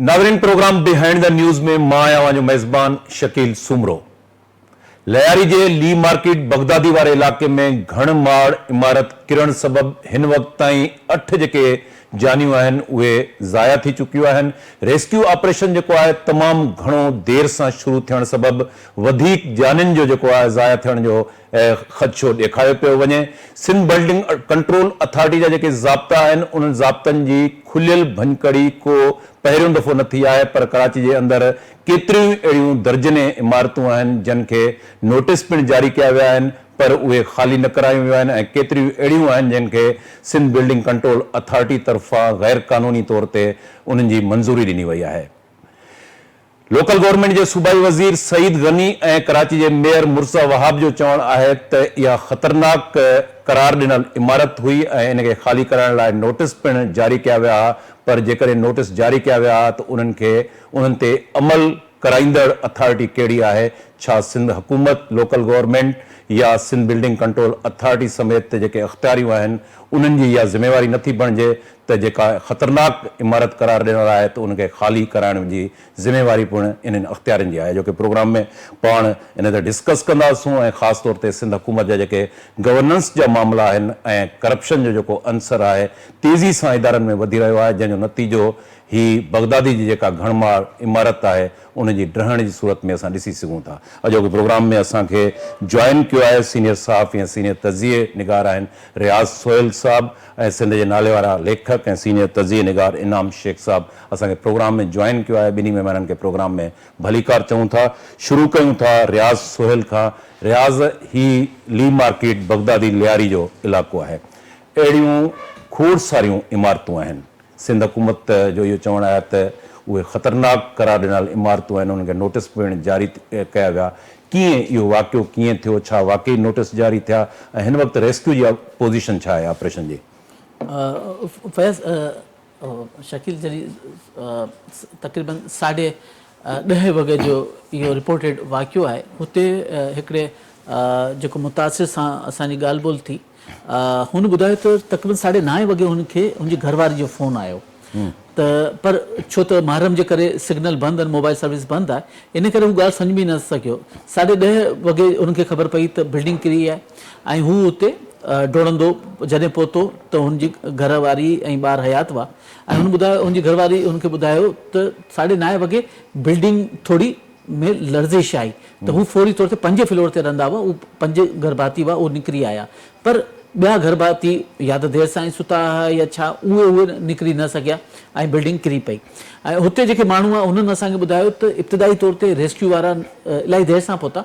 ناظرين programme behind the news ۾ مان آهيان اوهان جو ميزبان شڪيل سومرو. لياري جي لي مارڪيٽ بغدادي واري علائقي ۾ گهڻ ماڙ عمارت ڪرڻ سبب هن وقت تائين اٺ جيڪي جانيون آهن اهي ضايع ٿي چڪيون آهن، ريسڪيو آپريشن جيڪو آهي تمام گهڻو دير سان شروع ٿيڻ سبب وڌيڪ جانين جو جيڪو آهي ضايع ٿيڻ جو خدشو ڏيکاريو پيو وڃي، سنڌ بلڊنگ ڪنٽرول اٿارٽي جا جيڪي ضابطا آهن انهن ضابطن جي کليل ڀڃڪڙي ڪو پهريون دفعو نه ٿي آهي پر ڪراچي جي اندر ڪيتريون ئي اهڙيون درجنين عمارتون آهن جن کي نوٽيس پڻ جاري ڪيا ويا آهن پر اهي خالي نه ڪرايون ويون آهن ۽ ڪيتريون اهڙيون آهن جن کي سنڌ بلڊنگ ڪنٽرول اٿارٽي طرفان غير قانوني طور تي انهن جي منظوري ڏني وئي آهي. لوڪل گورنمينٽ جي صوبائي وزير سعيد غني ۽ ڪراچي جي ميئر مرزا وهاب جو چوڻ آهي ته اها خطرناڪ قرار ڏنل عمارت هئي ۽ ان کي خالي ڪرائڻ لاء نوٽيس پڻ جاري ڪيا ويا ها پر جيڪڏهن نوٽيس جاري ڪيا ويا ها ته انهن کي انهن تي عمل ڪرائيندڙ اٿارٽي ڪهڙي آهي؟ ڇا سنڌ حڪومت، لوڪل گورنمينٽ يا سنڌ بلڊنگ ڪنٽرول اٿارٽي سميت تي جيڪي اختياريون آهن انهن جي اها ذميواري نه ٿي بڻجي ته جيڪا خطرناڪ عمارت قرار ڏنل آهي ته ان کي خالي ڪرائڻ جي ذميواري پڻ انهن اختيارين جي آهي جو ڪي پروگرام ۾ پاڻ ان تي ڊسڪس ڪنداسون ۽ خاص طور تي سنڌ حڪومت جا جيڪي گورننس جا معاملا آهن ۽ ڪرپشن جو جيڪو عنصر آهي تيزي سان ادارن ۾ وڌي رهيو آهي جنهن جو نتيجو هي بغدادي جي جيڪا گهڻ ماڙ عمارت آهي ان جي ڊهڻ جي صورت ۾ اسان ڏسي سگهون ٿا. اڄوڪي پروگرام ۾ اسان کي جوائن ڪيو آهي سينيئر صحافي ۽ سينيئر تجزئي نگار آهن رياض سهيل صاحب ۽ سنڌ جي ناليوارا ليکڪ ۽ سينيئر تجزئي نگار انعام شيخ صاحب اسان کي پروگرام ۾ جوائن ڪيو آهي ٻنهي مهمانن کي پروگرام ۾ ڀليڪار چئون ٿا. شروع ڪيون ٿا رياض سهيل کان رياض هي لي مارڪيٽ بغدادي لياري جو علائقو آهي اهڙيون کوڙ ساريون عمارتون آهن سنڌ حڪومت جو اهو چوڻ آهي ته اهي خطرناڪ قرار ڏنل عمارتون آهن انهن کي نوٽيس پڻ جاري ڪيا ويا، ڪيئن اهو واقعو ڪيئن ٿيو، ڇا واقعي نوٽيس جاري ٿيا ۽ هن وقت ريسڪيو جي پوزيشن ڇا آهي آپريشن جي. فيض شڪيل جلي تقريبن ساڍي ڏهه وڳي جو اهو رپورٽيڊ واقعو آهي هتي هڪڙي جيڪو متاثر سان اسان جي ڳالهه ٻولهه ٿي. هن ٻڌايو ته تقريبن ساڍي نائين وڳي هن کي هن جي گهر واري جو فون آيو ته پر ڇو ته محرم جي ڪري سگنل بند آهن موبائل سروس بند آهي ان ڪري هو ڳالهه سمجهه به نه سگهيو ساڍي ڏهه وڳي هن کي خبر پئي ته بلڊنگ ڪري آهي ۽ هو اتي ڊوڙندو جڏهن پهتو ته هن جي گهر واري ۽ ٻار حيات هئا ۽ هن ٻڌايو هن جي گهر واري هن کي ٻڌايو ته ساڍي نائين وڳي بلڊنگ ٿوري ۾ لرزش آئي ته هو فوري طور تي پنجين فلور تي رهندا هئا، اهي پنج گهر ڀاتي هئا، اهي نڪري آيا پر ٻيا گهر ڀاتي يا ته دير سان ئي ستا هئا يا ڇا اهي اهي نڪري نه سگهيا ۽ بلڊنگ ڪري پئي ۽ هتي جيڪي ماڻهو هئا انهن اسان کي ٻڌايو ته ابتدائي طور تي ريسڪيو وارا الاهي دير سان پهتا،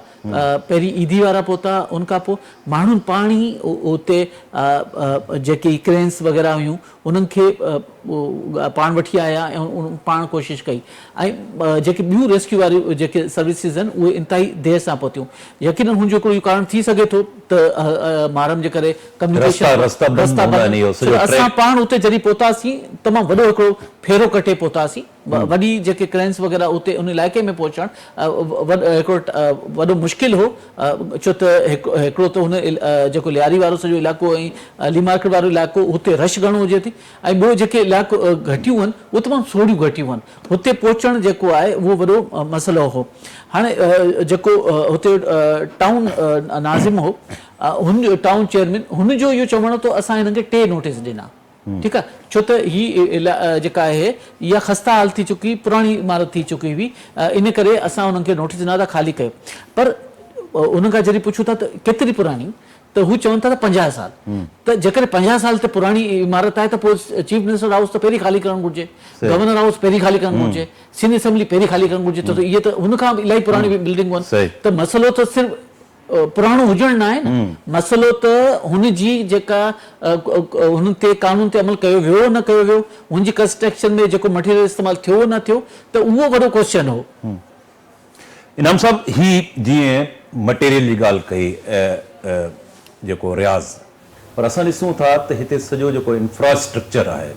پهرين ايڌي وارا پهتا ان کانپوء ماڻهن پاڻ ئي اتي جيڪي ڪرينس وغيره هيون انهن کي پاڻ وٺي آيا ۽ پاڻ ڪوشش ڪئي ۽ جيڪي ٻيون ريسڪيو واريون جيڪي سروسز آهن اهي انتهائي دير سان پهتيون يقينن هن جو هڪڙو اهو ڪارڻ ٿي سگهي ٿو ته مارم جي ڪري ڪميونيڪيشن رستا بند هوندا آهن اهو سڄو ٽريڪ اسان پاڻ اتي جڏهن پهتاسين تمام وڏو هڪڙو ڦيرو ڪٽي پهتاسين. وڏي جيڪي ڪرينس وغيره اتي ان علائقي ۾ پهچڻ هڪڙو وڏو مشڪل هو ڇو ته هڪڙو ته هن جيڪو لياري وارو سڄو علائقو ۽ علي مارڪيٽ وارو علائقو هتي رش گهڻو هجي ٿي ۽ ٻيو جيڪي علائقو گهٽيون هن اهي تمام سوڙهيون گهٽيون هن هتي پهچڻ جيڪو آهي اهو وڏو مسئلو هو هاڻي جيڪو هتي ٽائون ناظم هو هن ٽائون چيئرمين هن جو اهو چوڻ هو ته اسان هنن کي ٽي نوٽيس ڏنا ٺيڪ آ ڇو ته هي جيڪا آهي اها خسته حال ٿي چڪي هئي پراڻي عمارت ٿي چڪي هئي ان ڪري اسان انهن کي نوٽيس ڏنا ٿا خالي ڪيو پر انهن کان جڏهن پڇون ٿا ته ڪيتري پراڻي ته هو چون ٿا ته پنجاهه سال ته جيڪڏهن پنجاهه سال تي پراڻي عمارت آهي ته پوء چيف منسٽر هائوس ته پهرين خالي ڪرڻ گهرجي گورنر هائوس پهرين خالي ڪرڻ گهرجي سنڌ اسيمبلي پهرين خالي ڪرڻ گهرجي ڇو ته اهي ته هن کان به الاهي پراڻي بلڊنگون آهن ته مسئلو ته صرف پراڻو هجڻ ناهي نه مسئلو ته هن جي جيڪا هن تي قانون تي عمل ڪيو ويو نه ڪيو ويو هن جي ڪنسٽرڪشن ۾ جيڪو مٽيريل استعمال ٿيو نه ٿيو ته اهو وڏو ڪوشچن هو. انعام صاحب هي جيئن مٽيريل جي ڳالهه ڪئي جيڪو رياض. پر اسان ڏسون ٿا ته هتي سڄو جيڪو انفراسٽرڪچر آهي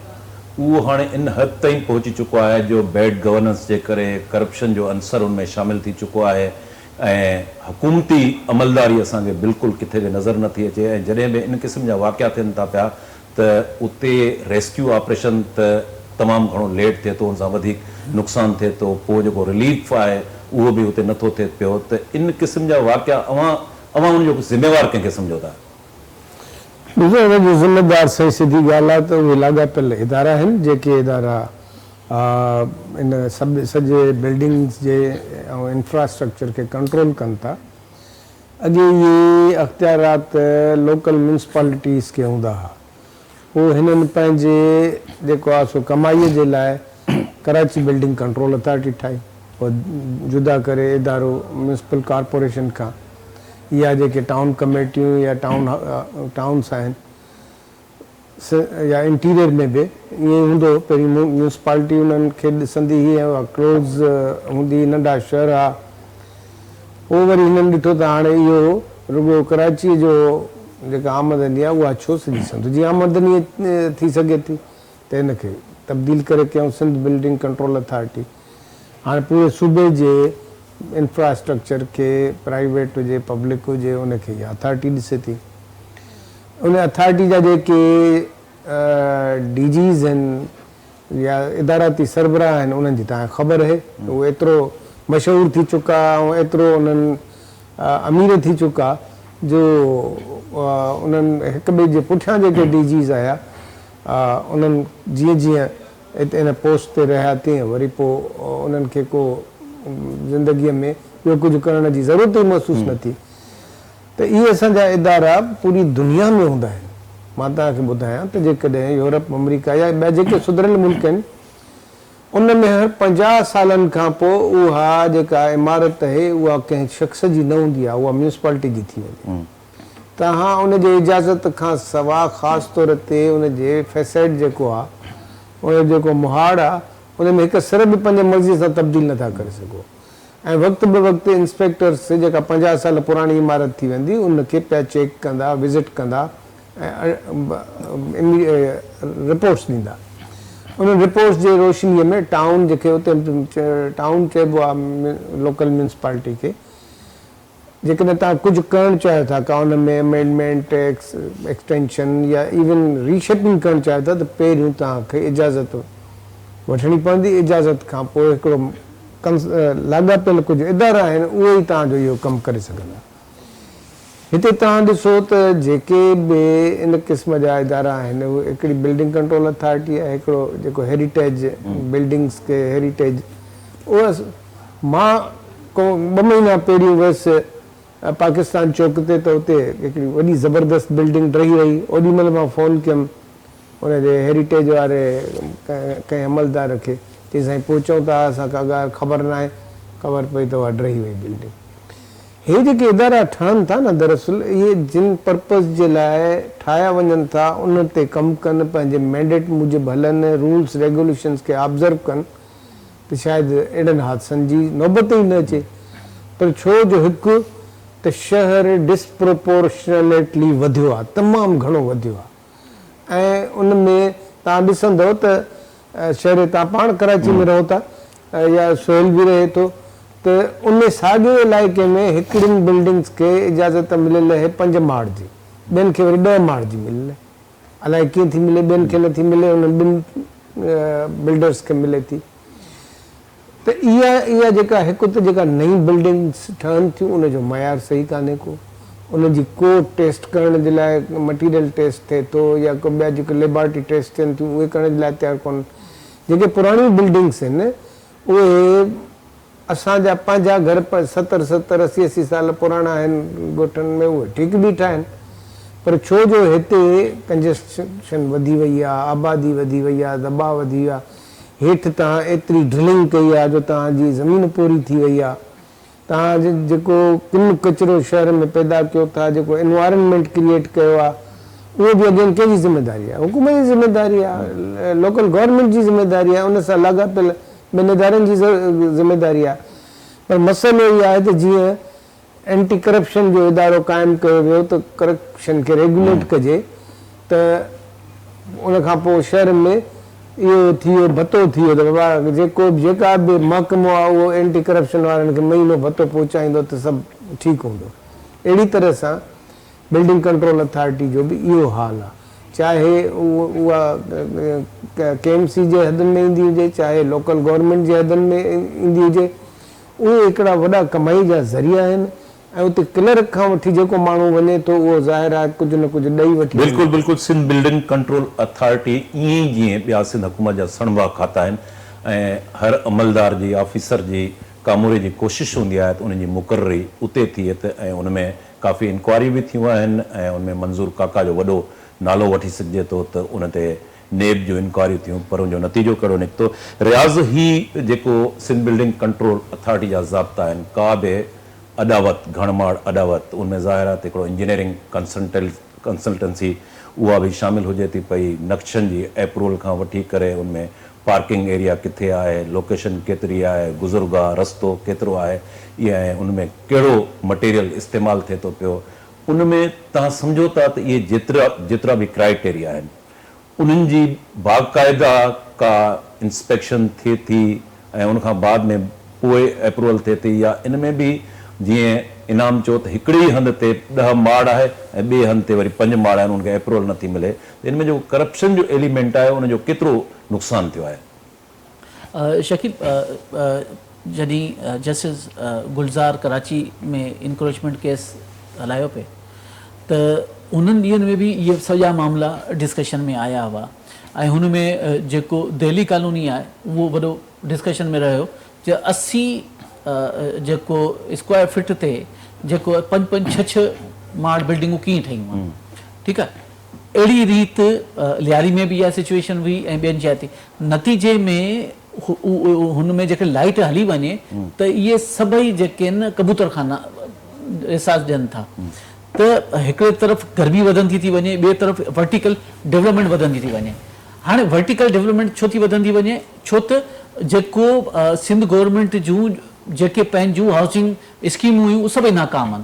اهو هاڻي ان حد تائين پهچي چڪو آهي جو بيڊ گورننس جي ڪري ڪرپشن جو عنصر ان ۾ شامل ٿي چڪو آهي ۽ حڪومتي عملداري اسان کي بلڪل ڪٿي به نظر نه ٿي اچي ۽ جڏهن به ان قسم جا واقعا ٿين ٿا پيا ته اتي ريسڪيو آپريشن ته تمام گهڻو ليٽ ٿئي ٿو ان سان وڌيڪ نقصان ٿئي ٿو پوء جيڪو رليف آهي اهو به اتي نه ٿو ٿئي پيو ته ان قسم جا واقعا اوهان اوهان ان جو ذميوار ڪنهن کي سمجهو ٿا؟ ڏسو ان جي ذميوار سائين سڌي ڳالهه آهي ته اهي لاڳاپيل ادارا آهن جيڪي ادارا ان سڄي بلڊنگز جي ۽ انفراسٽرڪچر کي ڪنٽرول ڪن ٿا اڳي اهي اختيارات لوڪل ميونسپالٽيز کي هوندا ها هو هنن پنهنجي جيڪو آهي سو ڪمائيء جي لاء ڪراچي بلڊنگ ڪنٽرول اٿارٽي ٺاهي اها جدا ڪري ادارو ميونسپل ڪارپوريشن کان يا جيڪي ٽائون ڪميٽيون يا ٽائون ٽائونس آهن يا انٽيريئر ۾ به ائين ئي هوندو پهرين ميونسپالٽي انهن کي ڏسندي هئي ۽ اها ڪلوز هوندي هئي ننڍا شهر ها پوء وري هنن ڏٺو ته هاڻي اهو رڳو ڪراچيء جو جيڪا آمدني آهي اها ڇو سڄي سنڌ جي آمدني ٿي سگهي ٿي ته ان کي تبديل ڪري ڪيائون سنڌ بلڊنگ ڪنٽرول اٿارٽي هاڻي پوري صوبي جي انفراسٽرڪچر کي پرائيويٽ هجي پبلڪ هجي ان کي اها اٿارٽي ڏسي ٿي ان اٿارٽي جا جيڪي ڊي جيز آهن يا اداراتي سربراهه آهن انهن جي توهان کي خبر اهي ته هو ايترو مشهور ٿي چڪا ۽ ايترو انهن امير ٿي چڪا جو انهن هڪ ٻئي جي پٺيان جيڪي ڊي جيز آيا انهن جيئن جيئن اتي ان پوسٽ تي رهيا تيئن وري پوء انهن کي ڪو زندگيء ۾ ٻيو ڪجهه ڪرڻ جي ضرورت ئي محسوس نه ٿي. ته اهي اسان جا ادارا پوري دنيا ۾ هوندا آهن. مان توهان کي ٻڌايان ته جيڪڏهن يورپ، آمريڪا يا ٻيا جيڪي سڌريل ملڪ آهن، ان ۾ هر پنجاهه سالن کان پوء اها جيڪا عمارت اهي اها ڪنهن شخص جي نه هوندي آهي، اها ميونسپالٽي جي ٿي وڃي. توهان ان جي اجازت کان سوا خاص طور تي ان جي فيسيڊ جيڪو آهي، ان جو جيڪو مهاڙ آهي، ان ۾ هڪ سر به پنهنجي مرضي سان تبديل نه ٿا ڪري سگهو. ۽ وقت به وقت انسپيڪٽرس جيڪا پنجاهه سال پراڻي عمارت ٿي ويندي ان کي پيا چيڪ ڪندا وزٽ ڪندا ۽ رپورٽس ڏيندا انهن رپورٽس جي روشني ۾ ٽائون جيڪي اتي ٽائون چئبو آهي لوڪل ميونسپالٽي کي جيڪڏهن توهان ڪجهه ڪرڻ چاهيو ٿا، ڪا ان ۾ امينڊمينٽ، ٽيڪس ايڪسٽينشن يا ايون ري شيپنگ ڪرڻ چاهيو ٿا ته پهريون توهان کي اجازت وٺڻي پوندي، اجازت کان پوء هڪڙو ڪنس لاڳاپيل ڪجهه ادارا آهن اهي ئي توهان جو اهو ڪم ڪري سگهندا. هتي توهان ڏسو ته جيڪي به ان قسم جا ادارا آهن اهي هڪڙي بلڊنگ ڪنٽرول اٿارٽي آهي هڪڙو جيڪو هيريٽيج بلڊنگز کي هيريٽيج اهو مان ڪو ٻه مهينا پهريون ويس پاڪستان چوڪ تي ته اتي هڪڙي وڏي زبردست بلڊنگ ڊهي رهي اوڏي مهل مان فون ڪيم ان جي هيريٽيج واري ڪنهن عملدار کي چئي سائين پهچئون ته آء اسان کي اڳ خبر ناهي خبر پئي ته اها ڊهي وئي بلڊنگ هي جيڪي ادارا ٺهن ٿا نه دراصل اهي جن پرپز جي لاء ٺاهيا وڃن ٿا ان تي ڪم ڪن پنهنجي مينڊيٽ موجب هلن رولز ريگوليشنز کي آبزرو ڪن ته شايد اهڙن حادثن جي نوبت ئي نه اچي پر ڇو جو هڪ ته شهر Disproportionately وڌيو آهي تمام گهڻو وڌيو آهي ۽ ان ۾ توهان ڏسندؤ ته شهري توهان پاڻ ڪراچي ۾ رهو ٿا يا سهيل به رهي ٿو ته ان ساڳئي علائقي ۾ هڪڙين بلڊنگس کي اجازت مليل اهي پنج ماڙ جي ٻين کي وري ڏهه ماڙ جي مليل اهي. الائي ڪيئن ٿي ملي ٻين کي نٿي ملي انهن ٻن بلڊرز کي ملي ٿي ته اها اها جيڪا هڪ ته جيڪا نئين بلڊنگز ٺهن ٿيون ان جو معيار صحيح ڪانهي ڪو انهن جي ڪو ٽيسٽ ڪرڻ جي لاء مٽيريل ٽيسٽ ٿئي ٿو يا ڪو ٻيا جيڪو ليبارٽري ٽيسٽ ٿين ٿيون اهي ڪرڻ جي لاء تيار ڪونهن جيڪي پراڻيون بلڊنگز هن اهي اسان جا پنهنجا گهر ستر ستر اسي اسي سال پراڻا آهن ڳوٺن ۾ اهي ٺيڪ بيٺا آهن پر ڇو جو هتي ڪنجسشن وڌي وئي آهي آبادي وڌي وئي آهي دٻاء وڌي ويو آهي هيٺ تهان ايتري ڊرلنگ ڪئي آهي جو تهان جي زمين پوري ٿي وئي آهي توهان جيڪو ڪن ڪچرو شهر ۾ پيدا ڪيو ٿا جيڪو انوائرنمينٽ ڪريئيٽ ڪيو آ اهو به اگين ڪنهن جي ذميداري آ حڪومت جي ذميداري آ لوڪل گورنمينٽ جي ذميداري آ ان سان لاڳاپيل ٻين ادارن جي ذميداري آ پر مسئلو اهو آهي ته جيئن اينٽي ڪرپشن جو ادارو قائم ڪيو ويو ته ڪرپشن کي ريگوليٽ ڪجي. ته ان کان پوء شهرن ۾ اهو ٿيو ڀتو ٿيو ته بابا جيڪو به جيڪا به محڪمو آهي اهو اينٽي ڪرپشن وارن کي مهينو ڀتو پهچائيندو ته سڀ ٺيڪ هوندو. اهڙي طرح سان بلڊنگ ڪنٽرول اٿارٽي جو به اهو حال آهي چاهي اها ڪي ايم سي جي حدن ۾ ايندي هجي چاهي لوڪل گورنمينٽ جي حدن ۾ ايندي هجي اهي هڪڙا وڏا ڪمائي جا ذريعا آهن ۽ اتي ڪلرڪ کان وٺي جيڪو ماڻهو وڃي ٿو اهو ظاهر آهي ڪجهه نه ڪجهه ڏئي وٺي وڃي بلڪل ٿو. بلڪل سنڌ بلڊنگ ڪنٽرول اٿارٽي ائين ئي جيئن ٻيا سنڌ حڪومت جا سڻڀا کاتا آهن ۽ هر عملدار جي آفيسر جي ڪاموري جي ڪوشش هوندي آهي ته ان جي مقرري اتي ٿئي ته ۽ ان ۾ ڪافي انڪوائريون به ٿيون آهن ۽ ان ۾ منظور ڪاڪا جو وڏو نالو وٺي سگهجي ٿو ته ان تي نيب جون انڪوائريون ٿيون پر ان جو نتيجو ڪهڙو نڪتو؟ رياض هي جيڪو سنڌ بلڊنگ ڪنٽرول اٿارٽي جا ضابطا آهن ڪا به اڏاوت گهڻ ماڙ اڏاوت ان ۾ ظاهر آهي ته هڪڙو انجنيئرنگ ڪنسلٽنسي اها به شامل هجي ٿي پئي نقشن جي ايپروول کان وٺي ڪري ان ۾ پارڪنگ ايريا ڪٿي آهي لوڪيشن ڪيتري آهي گذرگاهه رستو ڪيترو آهي اي ۽ ان ۾ ڪهڙو مٽيريل استعمال ٿئي ٿو پيو ان ۾ توهان سمجهو ٿا ته اهي جيترا جيترا به ڪرائيٽيريا آهن. انهن جي باقاعده ڪا انسپيڪشن ٿئي ٿي ۽ ان کان بعد ۾ پوء اپروول ٿئي ٿي يا ان ۾ به جيئن انعام چيو ته هڪڙي ئي هنڌ تي ڏهه ماڙ آهي ۽ ٻئي هنڌ تي وري پنج ماڙ آهن ان کي اپروول نه ٿي ملي ته ان ۾ جيڪو ڪرپشن جو ايليمينٽ آهي ان جو ڪيترو نقصان ٿيو آهي. شڪيب، جڏهن justice Gulzar Karachi ۾ encroachment case هلايو پئي ته انهن ڏينهن ۾ به اهي سڄا معاملا ڊسڪشن ۾ آيا هئا ۽ هن ۾ جيڪو دهلي ڪالوني آهي اهو وڏو ڊسڪشن ۾ رهيو جو اسي جيڪو اسڪوائر فٽ تي جيڪو پنج پنج ڇهه ڇهه ماڙ بلڊنگون ڪيئن ٺهيون آهن ٺيڪ آهي اهڙي ريت لياري ۾ به اها سچويشن هئي ۽ ٻين جاء تي نتيجي ۾ هن ۾ جيڪڏهن لائيٽ هلي وڃي ته اهي سڀئي جيڪي آهن ڪبوتر خانا احساس ڏين ٿا ته هڪڙي طرف گرمي وڌندي ٿي وڃي ٻئي طرف ورٽيڪل ڊولپمينٽ وڌندي ٿي وڃي هاڻي ورٽيڪل ڊولپمينٽ ڇو ٿي وڌندي وڃي ڇو ته جيڪو سنڌ گورنمينٽ جون جيڪي پنهنجون هائوسنگ اسڪيمون هيون سڀئي ناڪام آهن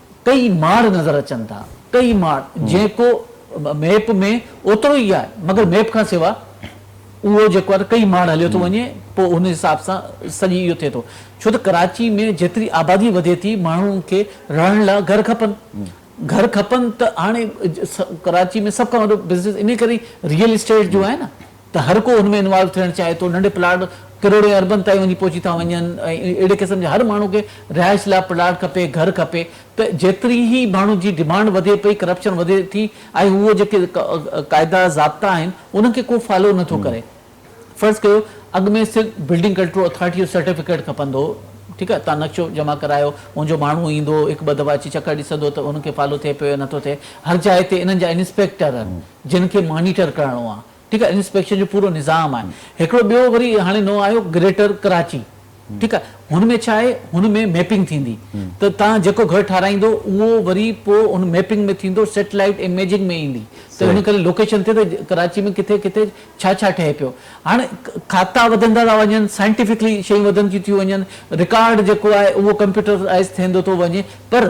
ڪيئي ماڙ نظر اچن ٿا ڪيئي ماڙ جيڪو ميپ ۾ اوترو ئي آهي مگر ميپ کان سوا اهو جيڪو آهي ڪيئي ماڙ هليو ٿو وڃي پوء ان حساب سان سڄي اهو ٿئي ٿو ڇو ته ڪراچي ۾ جيتري آبادي وڌي ٿي ماڻهن کي رهڻ لاء گهر کپن گهر کپن ته هاڻي ڪراچي ۾ سڀ کان وڏو بزنس ان ڪري ريئل اسٽيٽ جو آهي نه ته هر ڪو ان ۾ انوالو ٿيڻ چاهي ٿو، ننڍي پلاٽ ڪروڙين اربن تائين وڃي پهچي ٿا وڃن ۽ اهڙي قسم جي هر ماڻهو کي رهائش لاء پلاٽ کپي، گهر کپي ته جيتري هي ماڻهو جي ڊمانڊ وڌي پئي ڪرپشن وڌي ٿي ۽ هو جيڪي قاعدا ضابطا آهن انهن کي ڪو فالو نه ٿو ڪري فرض ڪيو اڳ ۾ صرف بلڊنگ ڪنٽرول اٿارٽي جو سرٽيفڪيٽ کپندو هو ٺيڪ آهي تان نقشو جمع ڪرايو ان جو ماڻهو ايندو هو هڪ ٻه دفعا اچي چڪر ڏسندو ته ان کي فالو ٿئي پيو يا نٿو ٿئي هر جاء تي انهن جا انسپيڪٽر جن کي مانيٽر ڪرڻو آهي ٺيڪ آهي انسپيڪشن جو پورو نظام آهي هڪڙو ٻيو وري هاڻي نئون آيو گريٽر ڪراچي ٺيڪ آهي هن ۾ ڇا آهي هن ۾ ميپنگ ٿيندي ته تان جيڪو گهر ٺاراهيندو اهو وري پو ان ميپنگ ۾ ٿيندو سيٽلائيٽ اميجنگ ۾ ايندي ته ان ڪري لوڪيشن تي ته ڪراچي ۾ ڪٿي ڪٿي ڇا ڇا ٺهي پيو هاڻي کاتا وڌندا ٿا وڃن سائنٽيفڪلي شيون وڌنديون ٿيون وڃن رڪارڊ جيڪو آهي اهو ڪمپيوٽرائز ٿيندو ٿو وڃي پر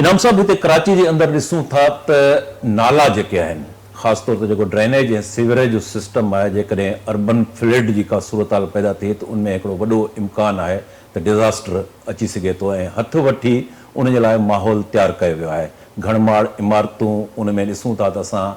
انعام صاحب هتي ڪراچي جي اندر ڏسون ٿا ته نالا جيڪي آهن خاص طور تي جيڪو ڊرينيج ۽ سيوريج جو سسٽم آهي جيڪڏهن اربن فلڊ جي ڪا صورتحال پيدا ٿئي ته ان ۾ هڪڙو وڏو امڪان آهي ته ڊزاسٽر اچي سگهي ٿو ۽ هٿ وٺي ان جي لاء ماحول تيار ڪيو ويو آهي گهڻ ماڙ عمارتون ان ۾ ڏسون ٿا ته اسان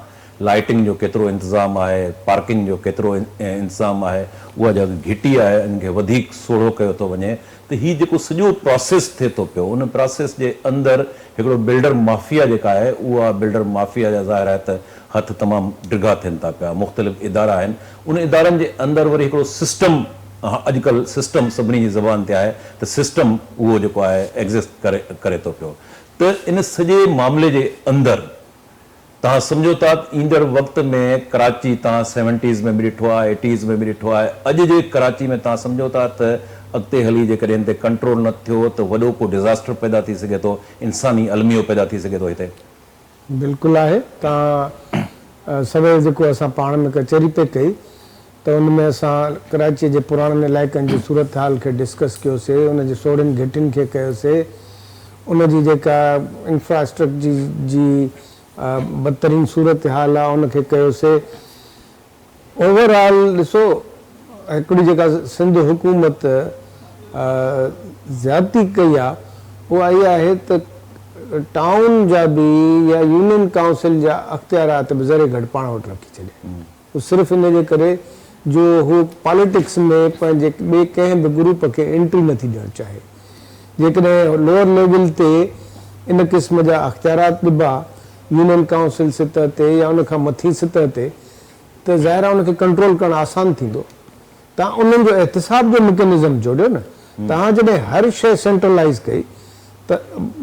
لائٽنگ جو ڪيترو انتظام آهي، پارڪنگ جو ڪيترو انتظام آهي، اها جيڪا گهٽي آهي ان کي وڌيڪ سوڙهو ڪيو ٿو وڃي ته هي جيڪو سڄو پراسيس ٿئي ٿو پيو ان پراسيس جي اندر هڪڙو بلڊر مافيا جيڪا آهي اها بلڊر مافيا جا ظاهر آهي ته هٿ تمام ڊگها ٿين ٿا پيا مختلف ادارا آهن ان ادارن جي اندر وري هڪڙو سسٽم اڄڪلهه سسٽم سڀني جي زبان تي آهي ته سسٽم اهو جيڪو آهي ايگزسٽ ڪري ڪري ٿو پيو ته ان سڄي معاملي جي اندر توهان سمجهو ٿا ته ايندڙ وقت ۾ ڪراچي توهان سيونٽيز ۾ به ڏٺو آهي، ايٽيز ۾ به ڏٺو آهي، اڄ جي ڪراچي ۾ توهان سمجهو ٿا ته اڳتي هلي جيڪڏهن هن تي ڪنٽرول نه ٿيو ته وڏو ڪو ڊزاسٽر پيدا ٿي سگهي ٿو، انساني الميو پيدا ٿي سگهي ٿو هتي. بلڪل آهي توهان سوير جيڪو اسان پاڻ ۾ ڪچهري پئي ڪئي. ته ان ۾ اسان ڪراچيء جي پراڻن علائقن جي صورتحال کي ڊسڪس ڪيوسي، ان جي سوڙهين گهٽين کي ڪيوسي، ان جي جيڪا انفراسٽرڪجي جي بدترين صورتحال آ ان کي ڪيوسي. اوور آل ڏسو هڪڙي جيڪا سنڌ حڪومت زيادتي ڪئي آ اها اها آهي ته ٽائون جا به يا يونين ڪائونسل جا اختيارات به ذري گهٽ پاڻ وٽ رکي ڇڏيا. صرف ان جي ڪري جو هو پاليٽڪس ۾ پنهنجي ٻئي ڪنهن به گروپ کي انٽري نٿي ڏيڻ چاهي. جيڪڏهن لوئر ليول تي ان قسم جا اختيارات ڏبا يونين ڪائونسل سطح تي يا ان کان مٿين سطح تي ته ظاهر آهي ان کي ڪنٽرول ڪرڻ آسان ٿيندو توهان انهن جو احتساب جو مڪينزم جوڙيو نه. توهان جڏهن هر شيء سينٽرلائيز ڪئي ته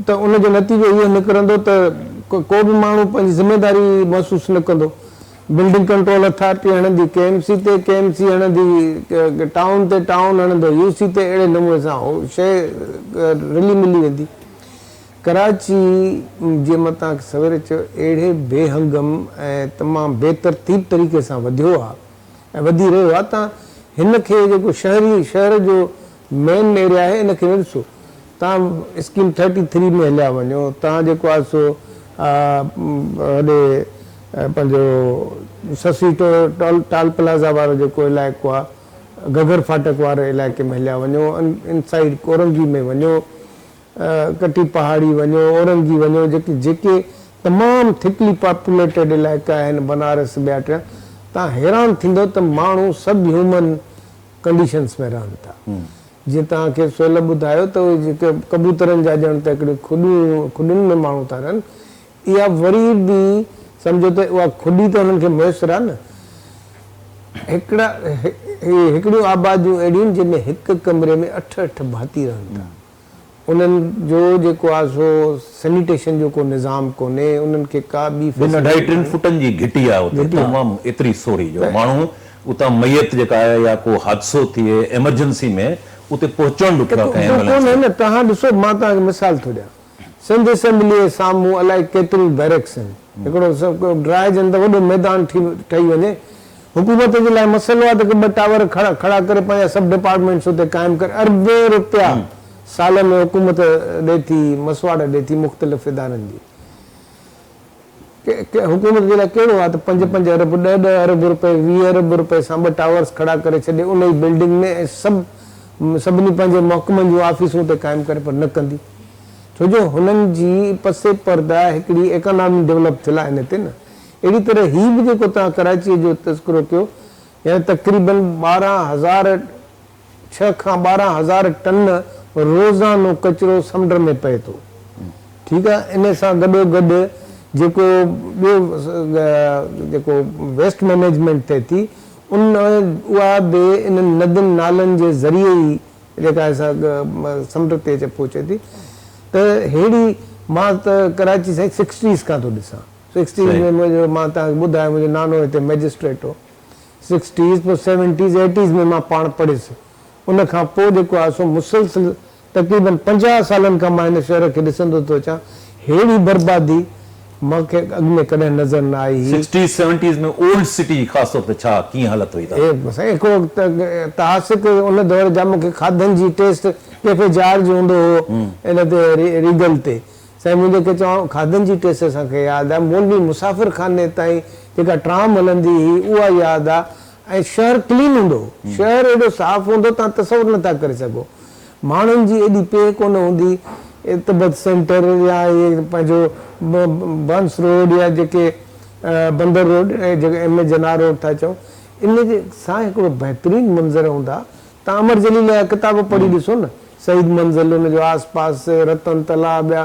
ته ان جو نتيجو اهو نڪرندو ته ڪو به ماڻهو پنهنجي ذميواري محسوس نه ڪندو. بلڊنگ ڪنٽرول اٿارٽي هڻندي ڪي ايم سي تي، ڪي ايم سي هڻندي ٽائون تي، ٽائون هڻندو يو سي تي اهڙي نموني سان اهو شيء رلي ملي ويندي. ڪراچي جيئن مان توهان کي سويري چيو اهڙي بي هنگم ۽ تمام بي ترتيب طريقي سان وڌيو آهي. ۽ وڌي رهيو آهي تان هن کي جيڪو شهري شهر جو مين ايريا آهي ان کي نه ڏسو تان اسڪيم ٿرٽي ٿري ۾ هليا وڃو تان جيڪو آهي سو هوڏي پنهنجو سسي ٽول ٽال پلازا وارو جيڪو علائقو آهي گگر ڦاٽڪ واري علائقي ۾ هليا وڃو ان ان سائيڊ ڪورنگي ۾ وڃو ڪٽي پهاڙي وڃو، اورنگي وڃو، جيڪي جيڪي تمام ٿڪلي پاپوليٽيڊ علائقا آهن بنارس ٻيا ٽيا، تان حيران ٿيندو ته ماڻهو سب هيومن ڪنڊيشنس ۾ رهن ٿا. جيئن توهان کي سهيل ٻڌايو ته اهي جيڪي ڪبوترن جا ڄڻ ته هڪڙي کڏون کڏين ۾ ماڻهو ٿا رهن، اها وري به سمجهو ته اها کڏي ته انهن کي ميسر آهي نه. هڪڙا هڪڙيون آباديون اهڙيون آهن جنهن ۾ هڪ ڪمري ۾ اٺ اٺ ڀاتي رهن ٿا. انهن جو جيڪو آهي سو سينيٽيشن جو ڪو نظام ڪونهي، انهن کي ڪا ٻي فيسلٽي ڪانهي. ٻن اڍائي ٽن فٽن جي گهٽي آهي اتي تمام ايتري سوري جو ماڻهو اتان ميت جيڪا آهي يا ڪو حادثو ٿئي ايمرجنسي ۾ اتي پهچڻ ڏکيو آهي ڪنهن ايمبولينس کي. توهان ڏسو مان توهان کي مثال ٿو ڏيان سنڌ اسيمبليء جي سامهون الائي ڪيتريون بيرڪس آهن. هڪڙو ڊراء جن ته وڏو ميدان ٺهي ٺهي وڃي. حڪومت جي لاء مسئلو آهي ته ڪي ٻه ٽاور کڙا کڙا ڪري پنهنجا سب ڊپارٽمينٽس اتي قائم ڪري اربين روپيا سال ۾ حڪومت ڏي ٿي مسواڙ ڏي ٿي مختلف ادارن جي ڪي حڪومت جي لاء ڪهڙو آهي ته پنج پنج ارب ڏهه ڏهه ارب روپيه ويهه ارب روپيه سان ٻه ٽاورس کڙا ڪري ڇڏي ان ئي بلڊنگ ۾ ۽ سڀ سڀني پنهنجي محڪمن جون آفيسون اتي قائم ڪري پر نه ڪندي. ڇو جو هنن جي پس پرده هڪڙي ايڪانامي ڊولپ ٿيل آهن هتي نه اهڙي طرح هي به جيڪو توهان ڪراچيء جو تذڪرو ڪيو يعني تقريبن ٻارهن هزار ڇهه کان ٻارهن هزار ٽن روزانو ڪچرو سمنڊ ۾ پئي ٿو ٺيڪ آهي ان سان گڏو گڏ جيڪو ٻيو جيڪو ويسٽ مئنيجمينٽ ٿئي ٿي ان اها به انهن ندين نالن جي ذريعي ئي جيڪا سا سمنڊ تي اچي پهچي ٿي ته ههڙي مان ته ڪراچي سائين سڪسٽيز کان ٿو ڏسان سڪسٽيز ۾ منهنجو مان توهان کي ٻڌايو منهنجو نانو هتي مئجسٽريٽ هو سڪسٽيز پوء سيونٽيز ايٽيز ۾ مان پاڻ پڙهيس ان کان پوء جيڪو آهي سو مسلسل تقريبن پنجاهه سالن کان مان هن شهر کي ڏسندو ٿو اچان ههڙي بربادي مان کي اڳ ۾ ڪڏهن نظر نه آئي هي. سڪسٽيز سيونٽيز ۾ اولڊ سٽي جي خاص طور تي ڇا ڪيئن حالت هئي تان. سائين هڪڙو تحاسڪ ان دور جا مون کي کاڌن جي ٽيسٽ ڪيفي جارج هوندو هو ان تي ريگل تي سائين منهنجي کي چوان کاڌن جي ٽيسٽ اسان کي ياد آ مولوي مسافر خاني تائين جيڪا ٽرام هلندي هئي اها ياد آ ۽ شهر ڪلين هوندو. شهر ايڏو صاف هوندو توهان تصور نٿا ڪري سگهو. ماڻهن جي ايڏي پيهه ڪونه هوندي. تبت سينٽر يا هي پنهنجو بنس روڊ يا جيڪي بندر روڊ جيڪي ايم اي جناح روڊ ٿا چئون ان سان هڪڙو بهترين منظر هوندا. توهان امر جليل جا ڪتاب پڙهي ڏسو نه سعيد منزل ان جو آس پاس رتن تلاء ٻيا.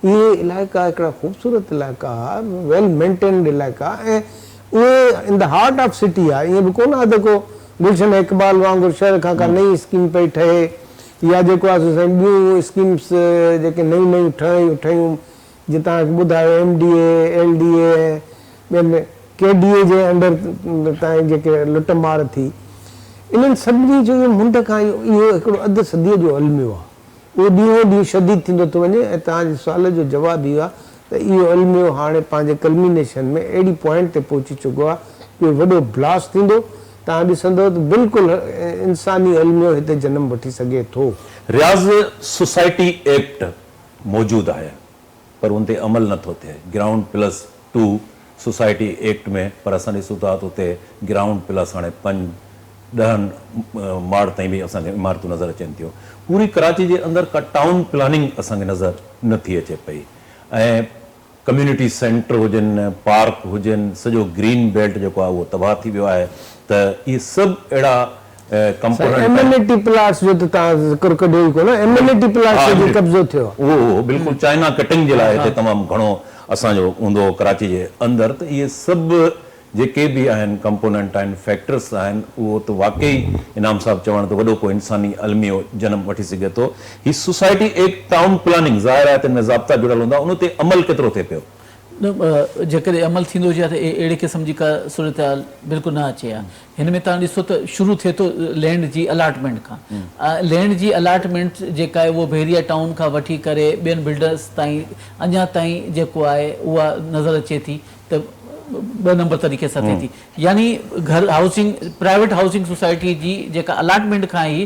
اهي علائقا هڪڙا خوبصورت علائقا ها، ويل مينٽينڊ علائقا ها ۽ اهي in the heart of city ها، ائين به ڪونه ها ته ڪو گلشن اقبال وانگر شهر کان ڪا نئين اسڪيم پئي ٺهي يا جيڪو آهي سو سائين ٻيون اسڪيمس جيڪي نيون نيون ٺهيون ٺهيون جيئن توهان کي ٻڌايو M D A, L D A ۽ ٻين ڪي ڊي اي جي انڊر تائين جيڪي لٽ مار ٿي انهن سڀني جو اهو منڍ کان اهو هڪڙو اڌ صديء جو الميو ها. اهو ڏينهون ڏينهن شديد ٿيندو ٿو وڃي ۽ توهان جي سوال جو جواب اهو آهي ته اهو الميو هاڻي پنهنجي ڪلمينيشن ۾ اهڙي پوائنٽ تي پهچي چڪو آهي جو وڏو بلاسٽ ٿيندو توهان ڏسندو ته بلڪل انساني الميو هتي جنم وٺي سگهي ٿو. رياض سوسائٽي ايڪٽ موجود آهي پر ان تي عمل نه ٿو ٿئي ground plus two society act ۾ پر اسان ڏسون ٿا ته اتي گرائونڊ پلس هاڻي پنج ڏهن ماڙ تائين به اسان کي عمارتون نظر اچن ٿيون پوري ڪراچي جي اندر ڪا ٽائون پلاننگ اسان کي نظر نه ٿي اچي پئي ۽ ڪميونٽي سينٽر هجن پارڪ هجن سڄو گرين بيلٽ جيڪو آهي اهو تباهه ٿي ويو آهي ته اهي سڀ اهڙا سائين ايمينٽي پلاٽس جو ته توهان ذڪر ڪڍيو ئي ڪونه ايمينٽي پلاٽس تي به قبضو ٿيو آهي. اهو اهو بلڪل چائنا ڪٽنگ جي لاء هتي تمام گهڻو اسان جو هوندو هو ڪراچي جي اندر ته اهي سڀ جيڪي به آهن ڪمپوننٽ آهن فيڪٽرس آهن اهو ته واقعي انعام صاحب چوڻ ته وڏو ڪو انساني الميو جنم وٺي سگهي ٿو هي سوسائٽي ايڪٽ ٽائون پلاننگ ظاهر آهي تن ۾ ضابطا جڙيل هوندا ان تي عمل ڪيترو ٿئي پيو. جيڪڏهن عمل ٿيندو هجي ها ته اهڙي قسم جي ڪا صورتحال بلڪل نه اچي ها. هن ۾ توهان ڏسو ته شروع ٿئي ٿو لينڊ جي الاٽمينٽ کان. لينڊ جي الاٽمينٽ جيڪا آهي اهو بحريه ٽائون کان وٺي ڪري ٻين بلڊرز تائين اڃا تائين جيڪو آهي اها نظر اچي ٿي ته ٻه نمبر طريقي سان ٿئي ٿي. يعني گهر هائوسنگ پرائيويٽ هائوسنگ سوسائٽي جي جيڪا الاٽمينٽ کان ئي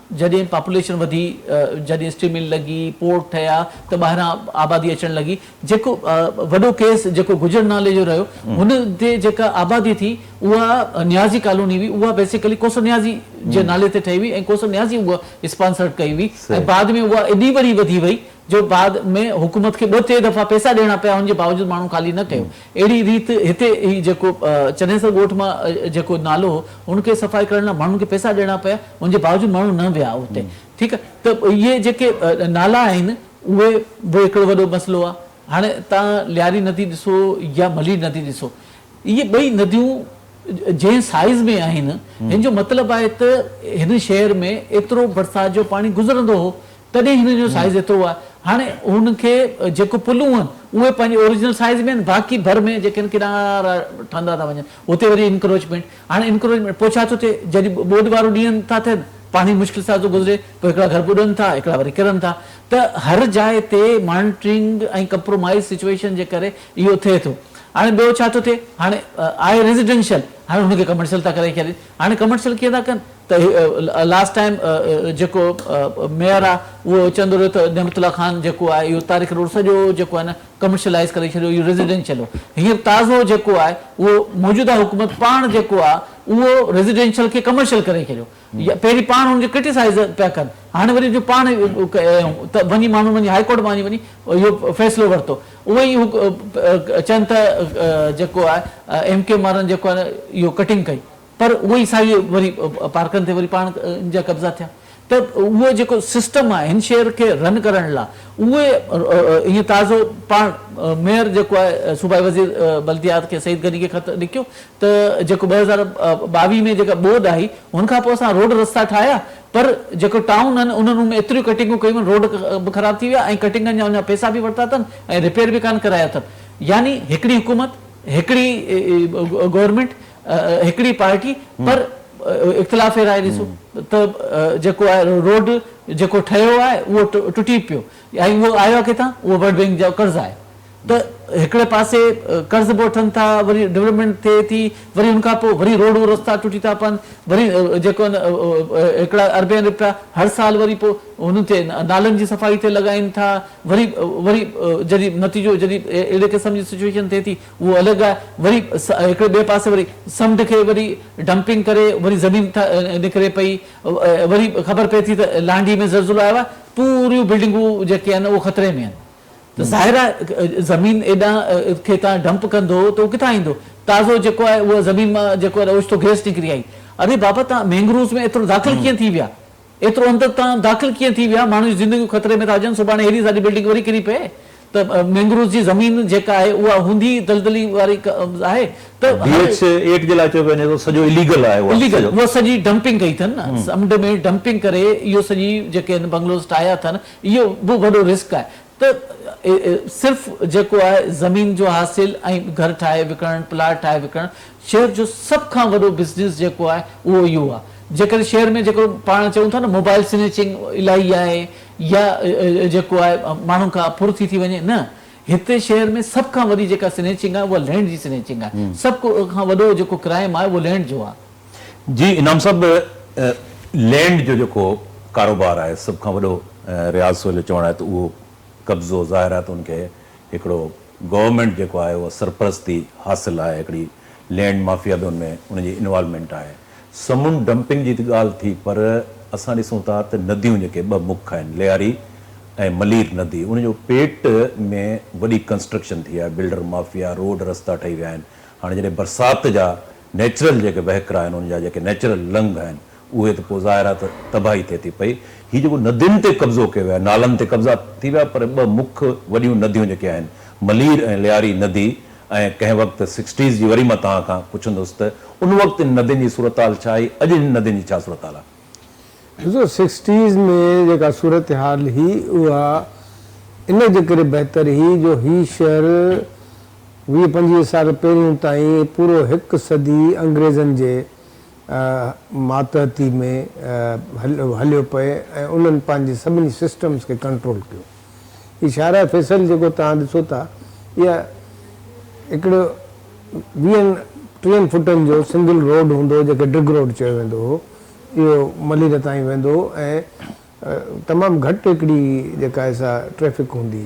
جڏهن پاپوليشن وڌي، جڏهن اسٽيل مل لڳي، پورٽ ٺهيا ته ٻاهران آبادي اچڻ لڳي، جيڪو وڏو ڪيس جيڪو گجر نالي جو رهيو هن تي جيڪا آبادي ٿي اها نيازي ڪالوني هئي اها بيسيڪلي ڪوسو نيازي جي نالي تي ٺهي هئي ۽ ڪوسو نيازي اها اسپانسرڊ ڪئي هئي ۽ بعد ۾ اها ايڏي وڏي وڌي وئي جو بعد ۾ حڪومت کي ٻه ٽي دفعا پئسا ڏيڻا پيا ان جي باوجود ماڻهو خالي نه ڪيو اهڙي ريت هتي هي جيڪو چنيسر ڳوٺ مان جيڪو نالو هو ان کي صفائي ڪرڻ لاء ماڻهن کي پئسا ڏيڻا پيا ان جي باوجود ماڻهو نه ويا اتي ٺيڪ آهي ته اهي جيڪي نالا آهن اهي به هڪڙو وڏو مسئلو آهي هاڻي تان لياري ندي ڏسو يا ملير ندي ڏسو اهي ٻئي نديون جنهن سائيز ۾ آهن هن جو مطلب آهي ته هن شهر ۾ ايترو برسات جو پاڻي گذرندو هو تڏهن هن جو سائيز ايترو آهي. هاڻي هن کي جيڪو پلون آهن اهي پنهنجي اوريجنل سائيز ۾ آهن باقي ڀر ۾ جيڪي آهن ڪنارا ٺهندا ٿا وڃن هتي وري انڪروچمينٽ هاڻي انڪروچمينٽ پوء ڇا ٿو ٿئي جڏهن ٻوڏ وارو ڏينهن ٿا ٿين پاڻي مشڪل سان ٿو گذري پوء هڪڙا گهر ٻڏن ٿا هڪڙا وري ڪرن ٿا ته هر جاء تي مانيٽرنگ ۽ ڪمپرومائيز سچوئيشن جي ڪري اهو ٿئي ٿو هاڻي ٻيو ڇا ٿو ٿئي هاڻي آهي ريزيڊنشل هاڻي هن کي ڪمرشل ٿا ڪري ڇڏين هاڻي ڪمرشل ڪيئن ٿا ڪن ته هي لاسٽ ٽائيم جيڪو ميئر آ اهو چوندو رهيو ته نعمت الله خان جيڪو آهي اهو تاريخ روڊ سڄو جيڪو آهي نه ڪمرشلائيز ڪري ڇڏيو اهو ريزيڊينشل هو هينئر تازو جيڪو آهي اهو موجوده حڪومت پاڻ جيڪو آ اهو ريزيڊينشل کي ڪمرشل ڪري ڇڏيو پهرين پاڻ ان کي ڪرٽيسائيز پيا ڪن هاڻي وري جو پاڻ ته وڃي ماڻهن وڃي هائي ڪورٽ مان وڃي اهو فيصلو ورتو اهو ئي چين ته جيڪو آهي ايم ڪيو مارن جيڪو آهي نه اهو ڪٽنگ ڪئي پر اهو ئي ساهي وري پارڪن تي وري پاڻ ان جا قبضا ٿيا ته اهو جيڪو سسٽم آهي هن شهر کي رن ڪرڻ لا اهو ائين تازو پاڻ ميئر جيڪو آهي صوبائي وزير بلديات کي سعيد غني کي خط لکيو ته جيڪو ٻه هزار ٻاويهه ۾ جيڪا ٻوڏ آئي هن کانپوء اسان روڊ رستا ٺاهيا پر جيڪو ٽائون آهن انهن ۾ ايتريون ڪٽنگون ڪيون آهن روڊ به خراب ٿي ويا ۽ ڪٽنگن جا اڃا پئسا به ورتا اٿن ۽ رپيئر به ڪانه ڪرايا اٿن يعني هڪڙي حڪومت هڪڙي گورنمينٽ هڪڙي پارٽي پر اختلاف راء ڏسو ته جيڪو آهي روڊ جيڪو ٺهيو آهي اهو ٽٽي پيو ۽ اهو آيو آهي ڪٿان اهو ورلڊ بينڪ جو قرض آهي ته هڪڙي پاسي قرض به وٺن ٿا وري ڊولپمينٽ ٿئي ٿي وري ان کان پوء وري روڊ رستا ٽٽي ٿا پون وري جيڪو هڪڙا اربين رپيا هر سال وري پوء هن تي نالن جي صفائي تي لڳائين ٿا وري وري جڏهن نتيجو جڏهن اهڙي قسم جي سچويشن ٿئي ٿي اهو الڳ آهي وري هڪڙي ٻئي پاسي وري سمنڊ کي وري ڊمپنگ ڪري وري زمين نڪري پئي وري خبر پئي ٿي ته لانڍي ۾ زلزلو آيو آهي پوريون بلڊنگون جيڪي آهن اهو خطري ۾ آهن ته ظاهر آهي زمين ايڏان کي تان ڊمپ ڪندو ته اهو ڪٿان ايندو تازو جيڪو آهي اهو زمين مان جيڪو آهي اوچتو گئس نڪري آئي اري بابا تان مينگروز ۾ ايترو داخل ڪيئن ٿي ويا ايترو اندر تان داخل ڪيئن ٿي ويا؟ ماڻهن جون زندگيون خطري ۾ ٿا اچن، سڀاڻي هيڏي ساري بلڊنگ وري ڪري پئي ته مينگروز جي زمين جيڪا آهي اها هوندي ئي دلدلي واري آهي ته ڊي هر ايڇ ايٽ جي لاء چيو پيو وڃي ته سڄو اليگل آهي اها اليگل سڄو. اها سڄي ڊمپنگ ڪئي اٿن نه سمنڊ ۾ ڊمپنگ ڪري اهو سڄي جيڪي هن بنگلوز ٺاهيا اٿن اهو به وڏو رسڪ آهي. ته صرف جيڪو آهي زمين جو حاصل ۽ گهر ٺاهي وڪڻڻ، پلاٽ ٺاهي وڪڻڻ، شهر جو سڀ کان وڏو بزنس جيڪو آهي اهو اهو آهي. جيڪڏهن شهر ۾ جيڪو پاڻ چئون ٿا نه موبائل سنيچنگ الائي آهي يا جيڪو آهي ماڻهن کان ڦر ٿي ٿي وڃي نه هتي شهر ۾ سڀ کان وڏي جيڪا سنيچنگ آهي اها لينڊ جي سنيچنگ آهي. سڀ کان وڏو جيڪو ڪرائيم آهي اهو لينڊ جو آهي. جي انعام صاحب لينڊ جو جيڪو ڪاروبار آهي سڀ کان وڏو رياض سوهيل جو چوڻ آهي ته اهو قبضو ظاهر آهي ته ان کي هڪڙو گورنمينٽ جيڪو آهي اها سرپرستي حاصل آهي هڪڙي لينڊ مافيا به ان ۾ ان جي انوالومينٽ آهي سمنڊ ڊمپنگ جي ته ڳالهه ٿي پر اسان ڏسون ٿا ته نديون جيڪي ٻه مک آهن لياري ۽ ملير ندي ان جو پيٽ ۾ وڏي ڪنسٽرڪشن ٿي آهي بلڊر مافيا روڊ رستا ٺهي ويا آهن هاڻي جڏهن برسات جا نيچرل جيڪي وهڪرا آهن ان جا جيڪي نيچرل لنگهه آهن اهي ته پوء ظاهر آهي ته تباهي ٿئي ٿي پئي هي جيڪو ندين تي قبضو ڪيو ويو آهي نالن تي قبضا ٿي ويا پر ٻه مک وڏيون نديون جيڪي آهن ملير ۽ لياري ندي ۽ ڪنهن وقت سڪسٽيز جي وري مان توهان کان پڇندس ته ان وقت ان ندين جي صورتحال ڇا هئي اڄ هن ندين جي ڇا صورتحال آهي. ڏسو سڪسٽيز ۾ جيڪا صورتحال هئي اها ان جي ڪري بهتر هئي جو هي شهر ويهه پنجويهه سال پهريون تائين پورو هڪ صدي انگريزن جي ماتحتي ۾ هليو پئي ۽ انهن پنهنجي سڀني سسٽمز کي ڪنٽرول ڪيو. هي شاهراهه فيصل جيڪو توهان ڏسو ٿا اها هڪڙو ويهن ٽيهن فوٽن جو سنگل روڊ هوندو هو جنهن کي ڊگ روڊ چيو ويندو هو. اهو ملير تائين ويندو ۽ تمام گهٽ هڪڙي جيڪا آهي سا ٽريفڪ هوندي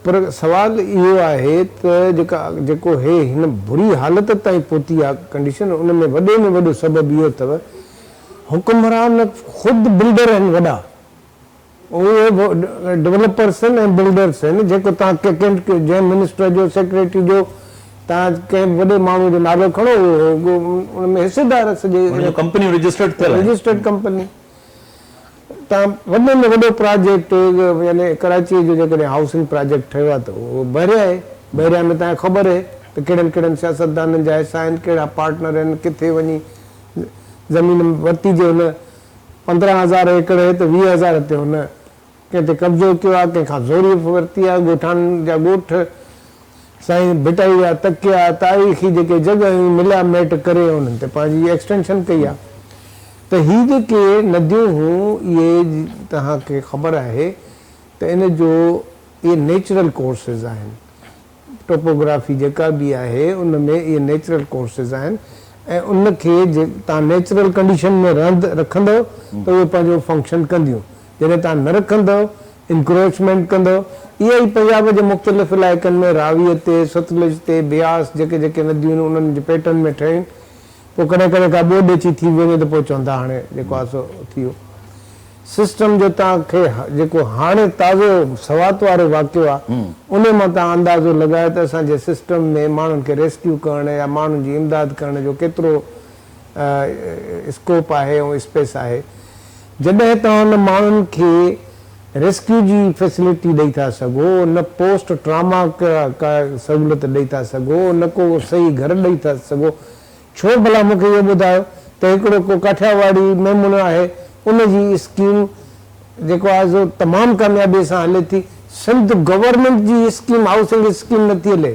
پر سوال اهو آهي ته جيڪا جيڪو هي هن بري حالت تائين پهتي آهي ڪنڊيشن ان ۾ وڏي ۾ وڏو سبب اهو اٿو حڪمران خود بلڊر آهن وڏا. اهي به ڊولپرس آهن ۽ بلڊرس آهن جيڪو تان ڪنهن جنهن منسٽر جو سيڪريٽري جو تان ڪنهن به وڏي ماڻهو جو نالو کڻو اهو هو گو ان ۾ حصيدار سڄي ان جون ڪمپنيون رجسٽرڊ ٿيل آهن. رجسٽرڊ ڪمپني تان وڏي ۾ وڏو پراجيڪٽ يعني ڪراچي جو جيڪڏهن هائوسنگ پراجيڪٽ ٺهيو آهي ته اهو بحريا آهي بحريا ۾ تان کي خبر اهي ته ڪهڙن ڪهڙن سياستدانن جا حصا آهن ڪهڙا پارٽنر آهن ڪٿي وڃي زمين ورتي جي هن پندرهن هزار ايڪڙ هي ته ويهه هزار تي هن ڪنهن تي قبضو ڪيو آهي، ڪنهن کان زوريء ورتي آهي، ڳوٺاڻن جا ڳوٺ سائين ڀٽائي جا تڪيا، تاريخي جيڪي جڳهيون مليا ميٽ ڪري ۽ انهن تي پنهنجي ايڪسٽينشن ڪئي آهي ته هي جيڪي نديون هون اهي توهان کي خبر آهي ته ان جو اهي نيچرل ڪورسز آهن. ٽوپوگرافي جيڪا به آهي ان ۾ اهي نيچرل ڪورسز آهن ۽ ان کي جي توهان نيچرل ڪنڊيشن ۾ رهند رکندؤ ته اهي پنهنجو فنڪشن ڪنديون جڏهن توهان نه رکندؤ انڪروچمينٽ ڪندؤ اها ئي پنجاب جي مختلف علائقن ۾ راوي تي ستلج تي بياس جيڪي جيڪي نديون انهن جي پيٽن ۾ ٺهين پوء ڪڏهن ڪڏهن ڪا ٻوڏ اچي ٿي به وڃي ته پوء چون ٿا هاڻي جيڪو آهي سو ٿي ويو. سسٽم جو توهان کي جيڪو هاڻي تازو سوات وارو واقعو آهي انهي مان توهان اندازو لڳايو ته اسان جي سسٽم ۾ ماڻهن کي ريسڪيو ڪرڻ يا ماڻهن جي امداد ڪرڻ جو ڪيترو اسڪوپ آهي ۽ اسپيس آهي. جڏهن توهان ان ماڻهن کي ريسڪيو جي فيسلٽي ڏئي ٿا سگهو، نه پوسٽ ٽراما ڪا سهولت ڏئي ٿا سگهو، نه ڪو صحيح گهر ڏئي ٿا سگهو، ڇو ڀلا مون کي اهو ٻڌايو ته هڪڙو ڪو ڪاٺياواڙي ميمڻو آهي ان جي اسڪيم جيڪو آهي سو تمام ڪاميابي سان هلي ٿي، سنڌ گورنمينٽ جي اسڪيم هائوسنگ اسڪيم نٿي هلي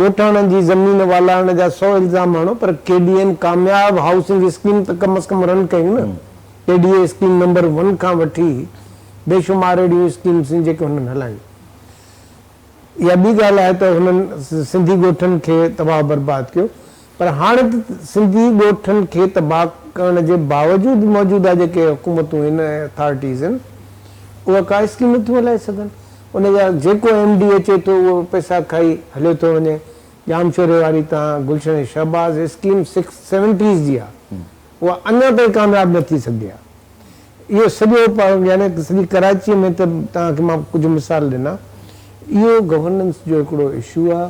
ڳوٺاڻن جي زمين والارڻ جا سؤ الزام هڻو پر ڪي ڊي اين ڪامياب هائوسنگ اسڪيم ته ڪم از ڪم رن ڪيون نه. K D A scheme number one کان وٺي بي شمار اهڙيون اسڪيمز آهن جيڪي هنن هلايون. اها ٻي ڳالهه آهي ته هنن سنڌي ڳوٺن کي تباهه برباد ڪيو. پر هاڻ ته سنڌي ڳوٺن کي تباهه ڪرڻ جي باوجود موجوده جيڪي حڪومتون هن ۽ اٿارٽيز هن اها ڪا اسڪيم نه ٿيون هلائي سگهن ان جا جيڪو ايم ڊي اچي ٿو اهو پئسا کائي هليو ٿو وڃي ڄامشوري واري تان Gulshan Shahbaz scheme six seventies جي آ اها اڃا تائين ڪامياب نه ٿي سگهي آ اهو سڄو يعني سڄي ڪراچي ۾ ته توهان کي مان ڪجهه مثال ڏنا اهو گورننس جو هڪڙو اشو آ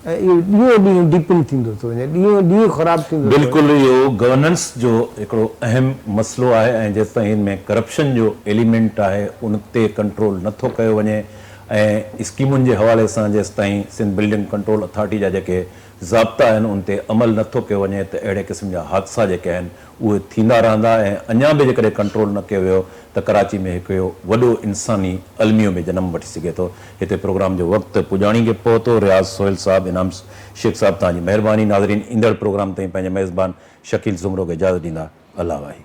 ۽ اهو ڏينهون ڏينهن ڊيپن ٿيندو ٿو وڃي، ڏينهون ڏينهن خراب ٿيندو ٿو وڃي. بلڪل اهو گورننس جو هڪڙو اهم مسئلو آهي ۽ جيستائين ان ۾ ڪرپشن جو ايليمينٽ آهي ان تي ڪنٽرول نه ٿو ڪيو وڃي ۽ اسڪيمن جي حوالي سان جيستائين سنڌ بلڊنگ ڪنٽرول اٿارٽي جا جيڪي ضابطا آهن ان تي عمل نه ٿو ڪيو وڃي ته اهڙي قسم جا حادثا جيڪي آهن اهي ٿيندا رهندا ۽ اڃا به جيڪڏهن ڪنٽرول نه ڪيو ويو ته ڪراچي ۾ هڪ اهو وڏو انساني الميو به جنم وٺي سگهي ٿو. هتي پروگرام جو وقت پڄاڻي کي پهتو. رياض سهيل صاحب، انعام شيخ صاحب توهان جي مهرباني. ناظرين ايندڙ پروگرام تائين پنهنجي ميزبان شڪيل سومرو کي اجازت ڏيندا. الله واحد.